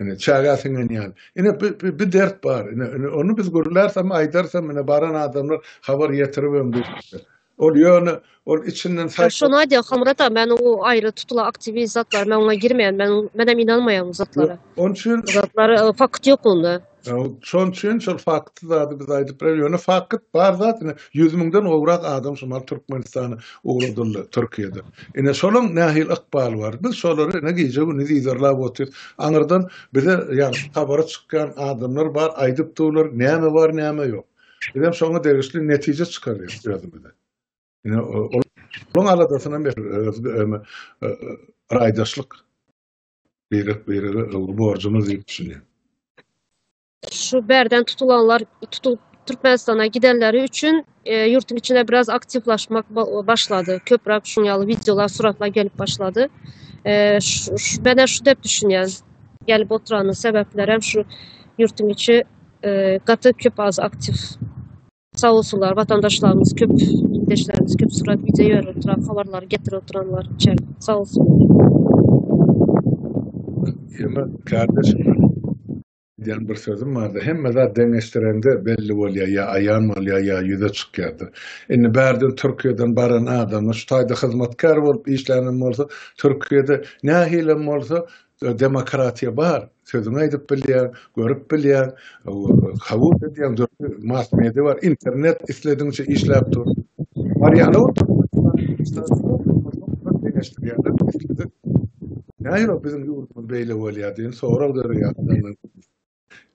Ine çaga siňen ýaly. Ine bir dert bar. Ine ony biz gürlärsem, aýdarsam, ine baran adamlar habar ýetirip hem durýar. Ol ýöne ol içinden saý. Şony aýdýar Hamrat aga, men o aýry tutulan aktiwist zatlar, men oňa girmeýän, men men hem inanmaýan zatlara. Onçun zatlar fakt ýok onda. Şoň üçin şol fakty zady biz aýdyp bileris. Ýöne fakyt bar zat ine ýüz müňden gowrak adam şu mal Türkmenistana ugradyldy Türkiýeden. Ine şolaň nähili ykbaly bar. Biz şolary ine gije-gündiz yzarlap otyrys. Aňyrdan bize ýagşy habary çykýan adamlar bar, aýdyp durlar näme bar näme ýok. Bizem şoňa degişli netije çykarýarys özümize. Ine olaň aladasynam öz raýdaşlyk. Birek-birege ylgy borjumyz diýip düşünýän. Şu bärden tutulanlar, tutulyp Türkmenistana gidenleri üçin e, ýurtuň içine biraz aktiwlaşmak başlady. Köpräk şuň ýaly wideolar, suratlar gelip başlady. E, şu, şu, ben şu dep düşünýän. Gelip oturanyň sebäpleri hem şu ýurtuň içi e, gaty köp az aktiw Sag bolsunlar watandaşlarymyz köp ildeşlerimiz köp surat video ýörüp duran habarlary getirip duranlar üçin sag bolsunlar. Ýöne kardeşim diýen bir sözüm bardy. Hemme zat deňeşdirende belli bolýar, ýa aýan bolýar, ýa ýüze çykýardyr. Indi bärden Türkiýeden baran adamlar şu taýda hyzmatkär bolup işlänem bolsa, Türkiýede nähilem bolsa Demokratiýa bar, sözüňi aýdyp bilýäň, görüp bilýäň, kabul edýäň, dürli mass-media bar, internet isledigiňçe işläp dur. Barýany Nähili biziň ýurdumyz beýle bolýar diýen sorag döreýär.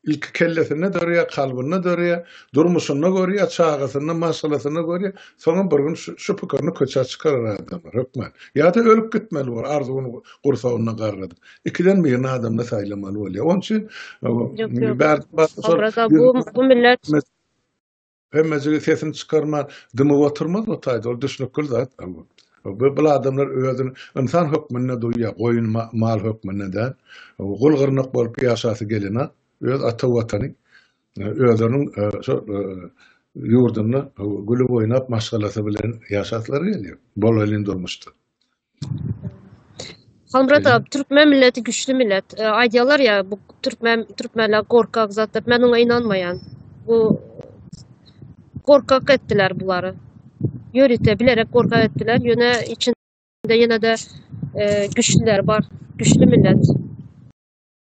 Ilki kellesinde dörýär, kalbynda dörýär, durmuşynda görýär, çagasynda, maşgalasynda görýär, soňam bir gün şu pikirini köçä çykarar adamlar, hökman. Ýa-da ölüp gitmeli bolar, arzuwyny gursagynda garradyp. Ikiden birini adamda saýlamaly bolýar. Onuň üçin, bärde-bärde şol. Obraza bu millet. Emmejigi sesini çykarman, dymyp oturmaz bu taýda, ol düşnükli zat. Bu bu adamlar özüni ynsan hökmünde duýýar, goýun mal hökmünde däl. Gul gyrnak bolup ýaşasy gelenok. Öz ata watany, özüniň şo ýurdunda gülüp oýnap maşgalasy bilen ýaşaslary gelýär. Bolaýlyn durmuşda. Halmyrat abi, türkmen milleti güçlü millet. E, Aýdýarlar ýa bu türkmen türkmenler gorkak zat diýip, men oňa inanmaýan. Bu gorkak etdiler bulary. Ýörite bilerek gorkak etdiler. Ýöne içinde ýene-de e, güçlüler bar. Güçlü millet.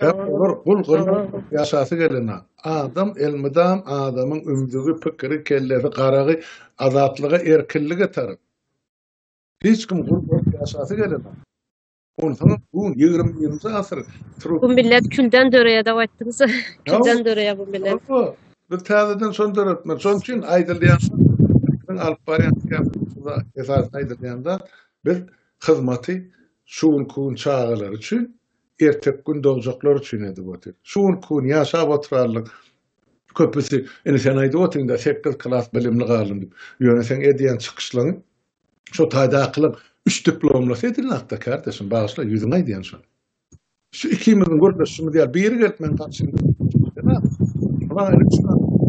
Sebäp olar gul gyrnagyp ýaşasy gelena. Adam elmydam adamyň ümzügi, pikiri, kellesi, garagy azatlyga, erkinlige tarap. Hiç kim gul bolup ýaşasy gelena. Onsoňam bu ýigrimi birinji asyr trud. Bu millet külden döreýädäw aýtdyňyz. Külden döreýär bu millet. Ýok, biz täzeden şony döretmeli. Şonuň üçin aýdylýan zat, alyp barýan syýasatymyzda esasy aýdylýan zat, biz hyzmaty şu günki gün çagalar üçin Erteki gün dogjaklar üçin edip otyr. Şu günki gün ýaşap oturanlaryň köpüsi, Ine, sen aýdyp otyň-da, sekiz klas bilimli galdym diýip. Ýöne seň edýän çykyşlaryň şo taýdakylaryň üç diplomlysy edil nagtda, kärdeşim, bagyşla, ýüzüňe aýdýan şony. Şu ikimiziň gürleşişimiz ýaly biri gelip meniň garşymda otursa, Ýaman ýaly üç klas bilimli.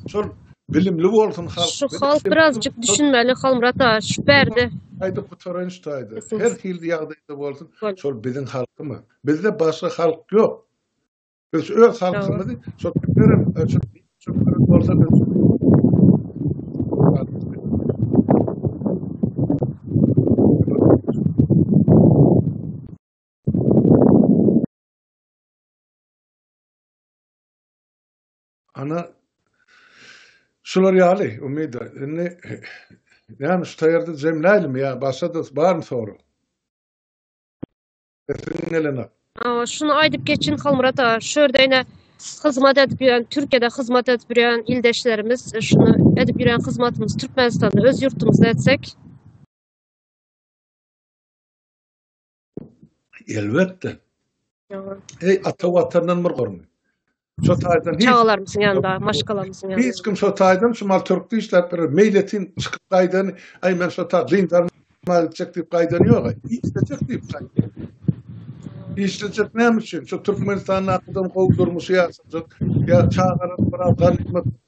Şol Bilimli bolsun halk. Şu halk birazjyk düşünmeli Halmyrat aga şu bärde. Aýdyp gutaran şu taýda. Her hili ýagdaýda bolsun. Şol biziň halkymy? Bizde başga halk ýok. Biz öz halkymyzy şol bilerim öçüp çökürip bolsa biz. Ana, şular ýaly, Umyda. Indi näme şu taýarda jemläýlimi ýa başga-da barmy sorag? Sesiň gelenak. Awa, şuny aýdyp geçin, Halmyrat aga. Şu ýerde ine hyzmat edip ýören, Türkiýede hyzmat edip ýören ildeşlerimiz, şuny edip ýören hyzmatymyzy Türkmenistanda, öz ýurtumyzda etsek. Elbetde. Eý, ata watandan bir gormy? Şo taýdan hiç çagalarymyzyň ýanynda, maşgalamyzyň ýanynda. Hiç kim şo taýdan şu mal türk diýişläp bir meýletin çykyp gaýdan, aý men şo taý dyndan mal çek diýip gaýdan ýok. Işlejek diýip gaýdan. Işlejek näme üçin? Şu Türkmenistanda adam gowy durmuş ýaşajak. Ýa çagalar biraz ganymat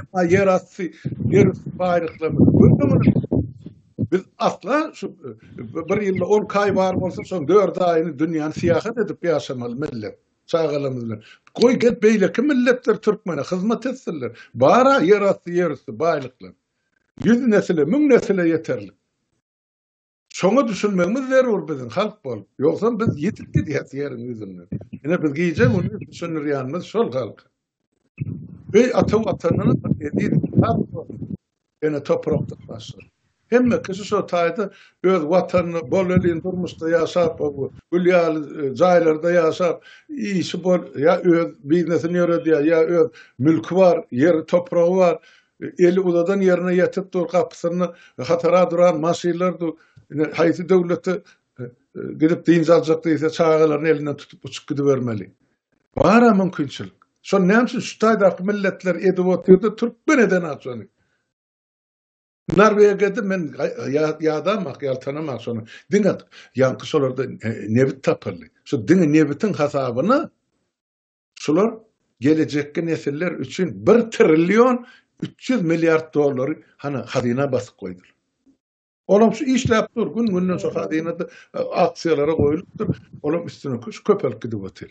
Emma ýerasty, ýerüsti baýlyklarymyzy göz öňüne Biz asla şu bir ýylda on kaý bar bolsa, şoň dört aýyny dünýäni syýahat edip ýaşamaly millet, çagalarymyz bilen. Goý, gelip beýleki milletler türkmene hyzmat etsinler. Bar-a ýerasty, ýerüsti baýlyklar. Ýüz nesile, müň nesile ýeterlik. Şoňa düşünmegimiz zerur biziň halk bolup. Ýogsam biz ýitip gidýäs ýeriň ýüzünden. Ine biz gije gündüz düşündirýänimiz şol halka. Öý ata watandan eziz kitap bolsun. Ene toprakda başlar. Hemme kişi şo taýda öz watanyny bol elin durmuşda ýaşap, gül ýaly e, jaýlarda ýaşap, işi bol, ýa öz biznesini ýöredýär, ýa öz mülki bar, ýeri topragy bar. Eli uzadan ýerine ýetip dur, gapysynda hatara duran maşynlar dur. Ine, haýsy döwlete gidip dynç aljak diýse, çagalaryny elinden tutup uçup gidibermeli. Bar-a mümkinçilik. Şony näme üçin şu taýdaky milletler edip oturdy, türkmen eden-a şony. Norwegiýada men ýadamak, ýaltanamak şony. Diňe ýaňky şolarda nebit tapyldy. Şu diňe nebitiň hasabyna Şular gelejekki nesiller üçin bir trillion üç ýüz milliard dollary hany hazyna basyp goýdular. Olam şu işläp dur, gün-günden şu hazynada e, aksiýalara goýulypdyr. Olam üstüne köş köpelip gidip otyr.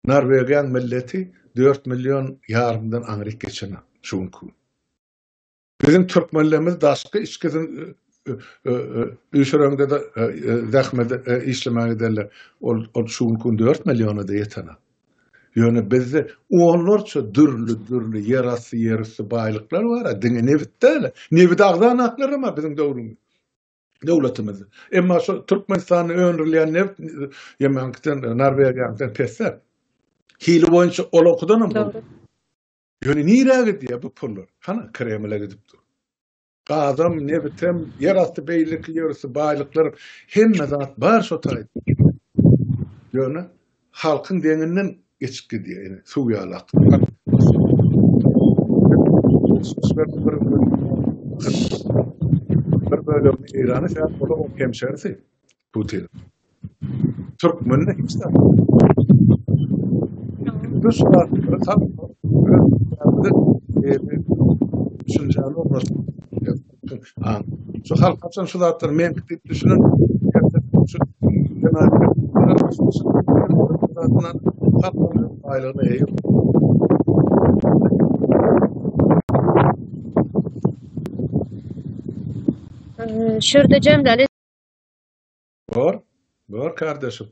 Norwegiýaň milleti 4 million ýarymdan aňryk geçen şu günki. Biziň türkmenlerimiz daşky içki üýşüreňde-de zähmet işlemäge giderler. Ol şu günki gün dört milliona-da ýetene. Ýöne bizde onlarça dürli-dürli ýerasty, ýerüsti baýlyklar bar-a, diňe nebit däl-ä. Nebit agzan aklarym-a biziň döwrümiz, döwletimiz. Emma şo Türkmenistanda öndürilýän nebit ýemeňkiden, Norwegiýaňkydan pes-ä. Hili boýunça olaňkydanam gowy. Ýöne nirä gidýär bu pullar? Hana, Kremle gidip dur. Gazam, nebitem, ýerasty beýleki ýörüsi baýlyklar, hemme zat bar şo taýda. Ýöne halkyň deňinden geçip gidýär, ýene suw ýaly akyp. Bir bölegini Eýrana säp, olar hemşerisi. Putin. Türkmenler hiç zat. Düş var. Tam. Düşüncäni ornaşdyr. Ha. Şu halk haçan şu zatlar men gidip düşünen. Şu zatlar halkın aýlygyna eýe. Şurada jemdeli Bor, bor kardeşim.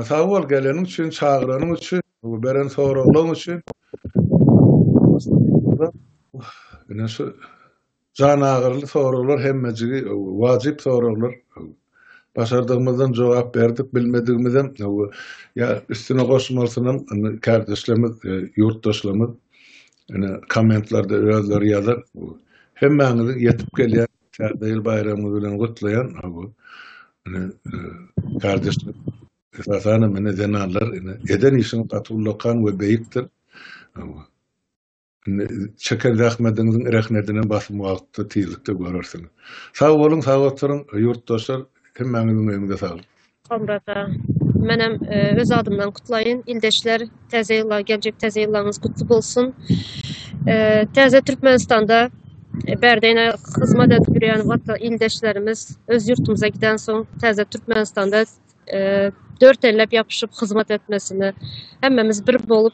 Sag bol geleniň üçin, çagyranyň üçin, bu beren soraglaryň üçin. Ine şu jan agyryly soraglar hemmejigi wajyp soraglar. Başardygymyzdan jogap berdik, bilmedigimizem ýa üstüne goşmalysynam indi kardeşlerimiz, e, ýurtdaşlarymyz ine kommentlarda özleri ýazar. Hemmäňiziň ýetip gelýän Täze ýyl baýramyňyz bilen gutlaýan ha bu ine kardeşler esasan hem ine zenanlar ine eden işiň gaty ullakan we beýikdir. Indi çeken zähmediňiziň rehnedini basym wagtda tizlikde görersiňiz. Sag boluň, sag oturyň ýurtdaşlar hemmäňiziň öýüňize saglyk. Soňra-da menem öz adymdan gutlaýyn. Ildeşler, täze ýyla, geljek täze ýyllaryňyz gutly bolsun. Täze Türkmenistanda bärde-ne hyzmat edip ýörýän wata ildeşlerimiz öz ýurtumyza giden soň täze Türkmenistanda dört elläp ýapyşyp hyzmat etmesini, hemmemiz bir bolup